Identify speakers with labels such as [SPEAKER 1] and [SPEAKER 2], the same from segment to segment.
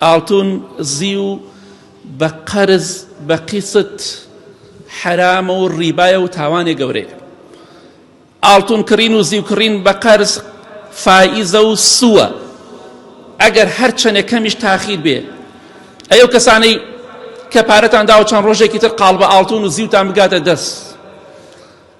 [SPEAKER 1] ئاڵتون زیو بە قەرز بە قیست حەرامە و ڕیبایە و تاوانێ گەورەیە ئاڵتون کڕین و زیو کڕین بە قەرز فائیزە و سووە ئەگەر هەر چەنێ کەمیش تاخیر بێ ئەو کەسانەی کە پارەتان داوە چەند ڕۆژێکی تر قاڵ بە ئاڵتون و زیوتان بگاتە دەست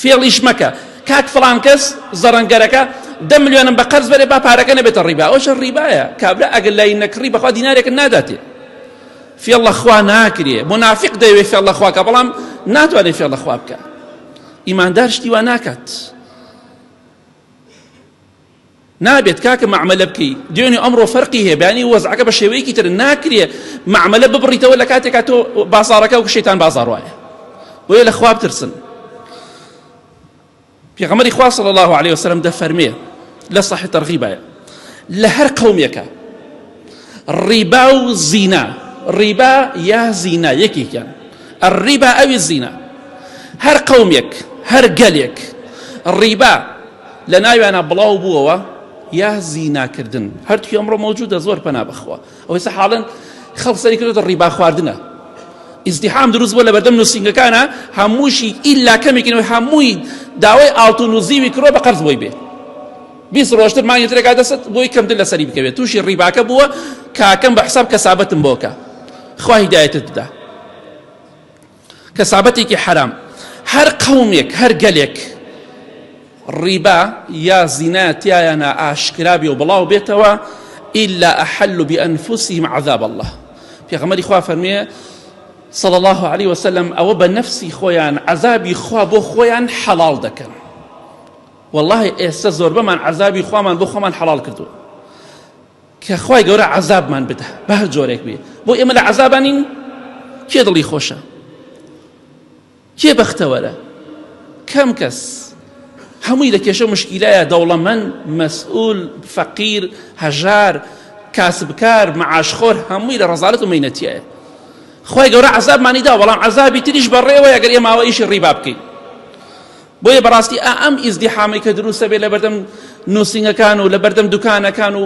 [SPEAKER 1] فێڵیش مەکە کاک فڵان کەس زەڕەنگەرەکە دە ملیۆنم بە قەرز بەرێ با پارەکە نەبێتە ڕیبا ئەوشە ڕیبایە کابرا ئەگەر لای نەکڕی بەخوا دینارێکت ناداتێ فێڵە خوا ناکرێ منافق دەیەوێ فێڵە خواکە بەڵام ناتوانێ فێڵە خوا بکە ئیماندار شتی وا ناکات نابێت کاکە مەعمەلە بکەی دوێنێ ئەمڕۆ فەرقی هەیە بەیانی وەزعەکە بە شێوەیەکی تر ناکرێ مەعمەلە ببڕیتەوە لە کاتێکا تۆ بازارەکە و شەیتان بازار وایە بۆیە لە خواب ترسن پێغەمەری خوا صلی الله عليه وسلم دەفەرمێ لە صحیح ترغیبایە لە هەر قەومێکە ڕیبا و زینا ڕیبا یا زینا یەکێکیان الربا ئەوی زینا هەر قەومێک هەر گەلێک ڕیبا لە ناویانە بڵاو بووەوە یا زیناکردن هەرتوی ئەمڕۆ مەوجودە زۆر پەنا بخوا ئەوەی سە حاڵن خەڵ سەری کردێتە ڕیبا خواردنە ئیزدیحام دروست بۆ لە بەردەم نووسنگەکانە هەمووشی ئیلا کەمێکینەوەی هەمووی داوای ئاڵتون و زیوی کرۆ بە قەرز بۆی بێ بیست ڕۆژتر مانگی ترێک ئادەست بۆی کەمتر لەسەری بکەوێت تووشی ڕیباکە بووە کاکەم بە حساب کەسابەتم بۆکە خوا هیدایەتت بدا کەسابەتێکی حرام هەر قەومێک هەر گەلێک ڕیبا یا زینا تایانە ئاشکرابی و بڵاو بێتەوە ئللا ئەحل و بئەنفوسیم عذاب الله پێغەمەری خوا فەرمێ صلى الله عليه وسلم ئەوە بە نەفسی خۆیان عذابی خوا بۆ خۆیان حەڵال دەکەن وەڵاهی ئێستە زۆربەمان عەزابی خوامان بۆ خۆمان حەڵاڵ کردووە کە خوای گەورە عەزابمان بدا بە هەر جۆرێک بێ بۆ ئێمە لە عەزابانین کێ دڵی خۆشە کێ بەختەوەرە کەم کەس هەمووی لە کێشە مشکیلایە دەوڵەمەند مەسئول فەقیر هەژار کاسبکار معاشخۆر هەمووی لە ڕزالەت و مینەتیایە خی گەورە عذابمانی دا بەڵام عذابی تریش بەڕێوەیە گەر ئێماوە ئیشی ڕیبا بکەین بۆیە بەڕاستی ئا ئەم ئیزدیحامەی کە دروستە بێ لەبەردەم نووسینگەکان و لەبەردەم دوکانەکان و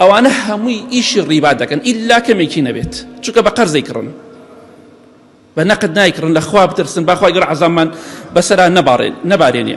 [SPEAKER 1] ئەوانە هەمووی ئیشی ڕیبا دەکەن ئیلا کەمێکی نەبێت چونکە بە قەرزەی کڕن بە نەقد نایکڕن لە خوا بترسن باخوای گەر عزامان بەسەرا نەبارێن نەبارێنێ